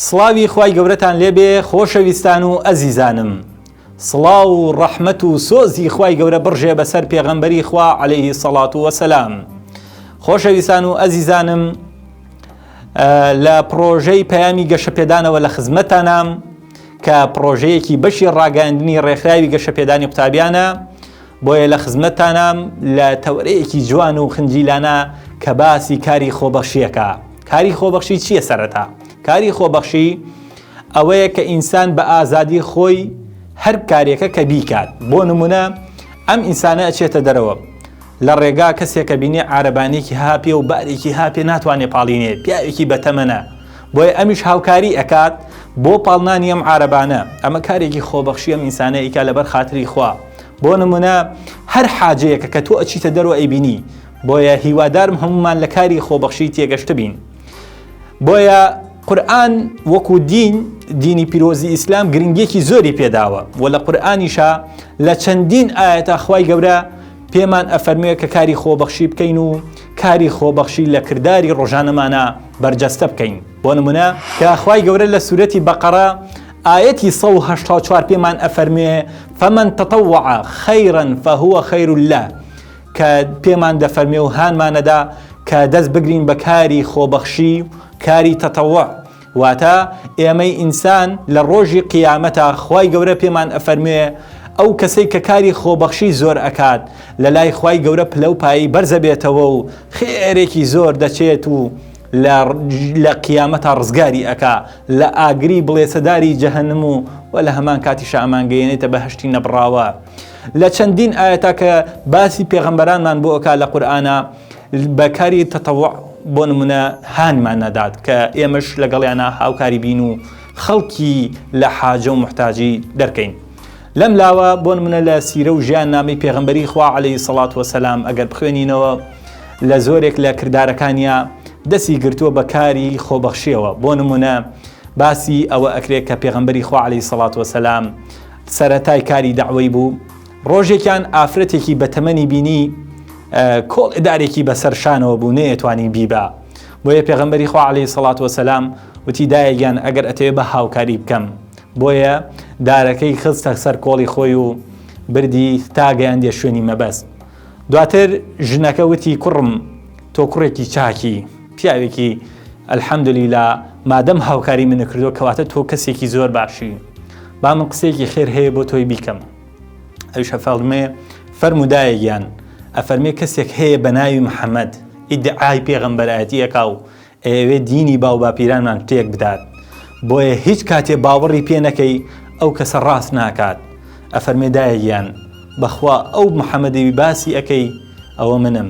سڵاوی خی گەورەتان لێبێ خۆشەویستان و ئەزیزانم سڵاو و ڕەحمت و سۆزی خی گەورە بڕژێ بەسەر پێغەمبەری خوا عليهەیهی سەڵات و وەسەسلام خۆشەویستان و ئەزیزانم لە پرۆژەی پەیامی گەشەپێدانەوە لە خزمەتانام کە پڕۆژەیەکی بەشی ڕاگەاندنی ڕێکخراوی گەشەپێدانی قوتابیانە بۆیە لە خزمەتتانام لە تەورەیەکی جوان و خنجیلانە کە باسی کاری خۆبەخشیەکە کاری خۆبەخشی چییە سەرەتا کاری خۆبەخشی ئەوەیە کە ئینسان بە ئازادی خۆی هەر کارێکە کە بیکات بۆ نمونە ئەم ئینسانە ئەچێتە دەرەوە لە ڕێگا کەسێکە بینێ عربانێکی هاپێ و بارێکی هاپێ ناتوانێت پاڵینێ پیاوێکی بەتەمەە بۆیە ئەمیش هاوکاری ئەکات بۆ پاڵنانی ئەم عربانە ئەمە کارێکی خۆبەخشی ئەم ئینسانە ئیکا لەبەر خاتری خوا بۆ نمونە هەر حاجەیەکە کە تۆ ئەچیتە دەرەوە ئەیبینی بۆیە هیوادارم هەمومان لە کاری خۆبەخشی تێگەشت بین بۆیە قورآن وەکو دین دینی پیرۆزی ئیسلام گرنگیەکی زۆری پێداوە و لە قورآانیشە لە چەندین ئاەتە خی گەورە پێمان ئەفەرموێ کە کاری خۆبەخشی بکەین و کاری خۆبەخشی لە کرداری ڕۆژانەمانە بەرجەستە بکەین بۆ نمونە کە خوای گەورە لە سوورەتی بەقەڕە ئاەتی 1970 پێمان ئەفەرموێ فەمەن تەتەوع خەیرن فەهوە خەیر لە کە پێمان دەفەرمێ و هانمانەدا کە دەست بگرین بە کاری خۆبەخشی کاری تەتەوە واتە، ئێمەی ئینسان لە ڕۆژی قیامەتا خوای گەورە پێمان ئەفەرموێ ئەو کەسەی کە کاری خۆبەخشی زۆر ئەکات لە لای خوای گەورە پلەو پایەی بەرز ئەبێتەوە و خێرێکی زۆر دەچێت و لە قیامەتا ڕزگاری ئەکا لە ئاگری بڵێسەداری جەهەنم و وە لە هەمان کاتیشا ئەمانگەیەنێتە بەهەشتی نەبڕاوە لە چەندین ئاەتا کە باسی پێغەمبەرانمان بۆ ئەکا لە قورئانا بە کاری تەتەوع بۆ نمونە هانمان نەدات کە ئێمەش لەگەڵیانە هاوکاری بین و خەڵکی لە حاجە و محتاجی دەرکەین لەم لاوە بۆ نمونە لە سیرە و ژیان نامی پێغمبەری خوا عليهەی سەڵات وەسەسلام ئەگەر بخوێنینەوە لە زۆرێک لە کردارەکانیا دەسی گرتووە بە کاری خۆبەخشیەوە بۆ نمونە باسی ئەوە ئەکرێت کە پێغمبەری خوا عليهەی سەڵات وەسەسلام سەتای کاری داوای بوو ڕۆژێکیان ئافرەتێکی بە تەمەنی بینی کۆڵ ئدارێکی بەسەر شانەوە بوو نەیەتوانی بیبا بۆیە پێغەمبەری خوا عليه سەڵات وسلام وتی دایەگیان ئەگەر ئەتەوێ بە هاوکاری بکەم بۆیە دارەکەی خستە سەر کۆڵی خۆی و بردی تا گەیاندێ شوێنی مەبەست دواتر ژنەکە وتی کوڕم تۆ کوڕێکی چاکی پیاوێکی ئەلحەمدلی لە مادەم هاوکاری منە کردو کەواتە تۆ کەسێکی زۆر باشی با من قسێکی خێر هەیە بۆ تۆی بیکەم ئەویش هەفاڵمێ فەرمو دایە گیان ئەفەرمێ کەسێک هەیە بە ناوی محەممەد ئیدعای پێغەمبەرایەتی ئەکا و ئەوێ دینی باو باپیرانمان تێک بدات بۆیە هیچ کاتێ باوەڕی پێ نەکەی ئەو کەسە ڕاست ناکات ئەفەرمێ دایە گیان بەخوا ئەو محەممەدەوی باسی ئەەکەی ئەوە منم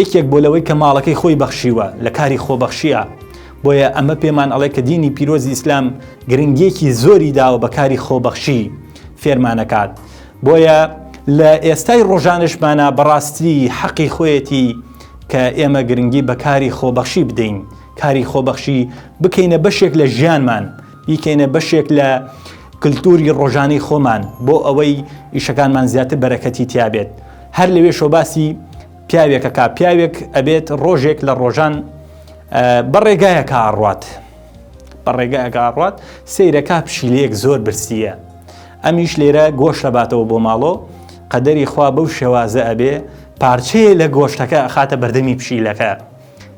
یەکێک بۆ لەوەی کە ماڵەکەی خۆی بەخشیوە لە کاری خۆبەخشیە بۆیە ئەمە پێمان ئەڵێ کە دینی پیرۆزی ئیسلام گرنگیەکی زۆری داوە بە کاری خۆبەخشی فێرمانەکات بۆیە لە ئێستای ڕۆژانشمانە بەڕاستی حەقی خۆیەتی کە ئێمە گرنگی بە کاری خۆبەخشی بدەین کاری خۆبەخشی بکەینە بەشێک لە ژیانمان بیکەینە بەشێک لە کللتوری ڕۆژانی خۆمان بۆ ئەوەی ئیشەکانمان زیاتر بەرەکەتی تیابێت هەر لەوێ شۆباسی پیاوێکە کا پیاوێک ئەبێت ڕۆژێک لە ڕۆژان بە ڕێگایە کاڕات بە ڕێگایە کاڕات سیرەکە پشیلەیەک زۆر برسیە ئەمیش لێرە گۆش لەباتەوە بۆ ماڵۆ قەدەری خوا بەو شێوازە ئەبێ پارچەیە لە گۆشتەکە خاتە بەردەمی پشیلەکە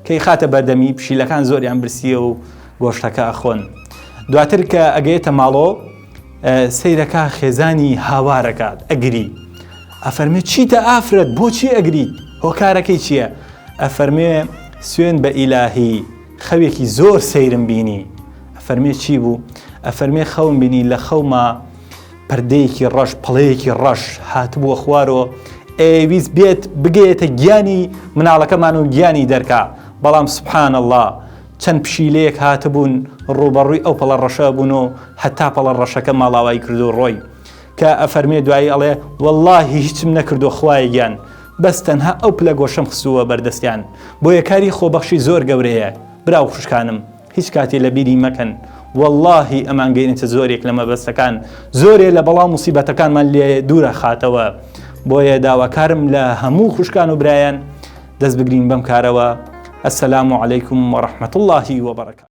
کەیخاتە بەردەمی پشیلەکان زۆریان برسیە و گۆشتەکە ئەخۆن دواتر کە ئەگەێتە ماڵۆ سەیرەکە خێزانی هاوارەکات ئەگری ئەفەرمێ چیتە ئافرەت بۆچی ئەگریت هۆکارەکەی چییە ئەفەرمێ سوێن بە ئیلاهی خەوێکی زۆر سەیرم بینی ئەفەرمێ چی بوو ئەفەرمێ خەوم بینی لە خەوما پردێکی ڕەش پڵەیەکی ڕەش هاتبووە خوارۆ ئەیویست بێت بگەێتە گیانی مناڵەکەمان و گیانی دەرکا بەڵام سبحان الله چەند پشیلەیەک هاتبوون ڕوبەڕووی ئەو پەڵە ڕەشە بوون و هەتا پەڵە ڕەشەکە ماڵاوای کردو ڕۆی کە ئەفەرمێ دوایی ئەڵێ واللهی هیچم نەکردو خوای گیان بەس تەنها ئەو پلە گۆشەم خستووە بەردەستیان بۆیە کاری خۆبەخشی زۆر گەورەیە براو خوشکانم هیچ کاتێ لە بیری مەکەن وەڵاهی ئەمان گەینتە زۆرێک لە مەبەستەکان زۆرێ لە بەڵام موسیبەتەکانمان لێ دوورە خاتەوە بۆیە داواکارم لە هەموو خوشکان و برایەن دەست بگرین بەم کارەوە السلام عليكم ورحمة الله وبركاته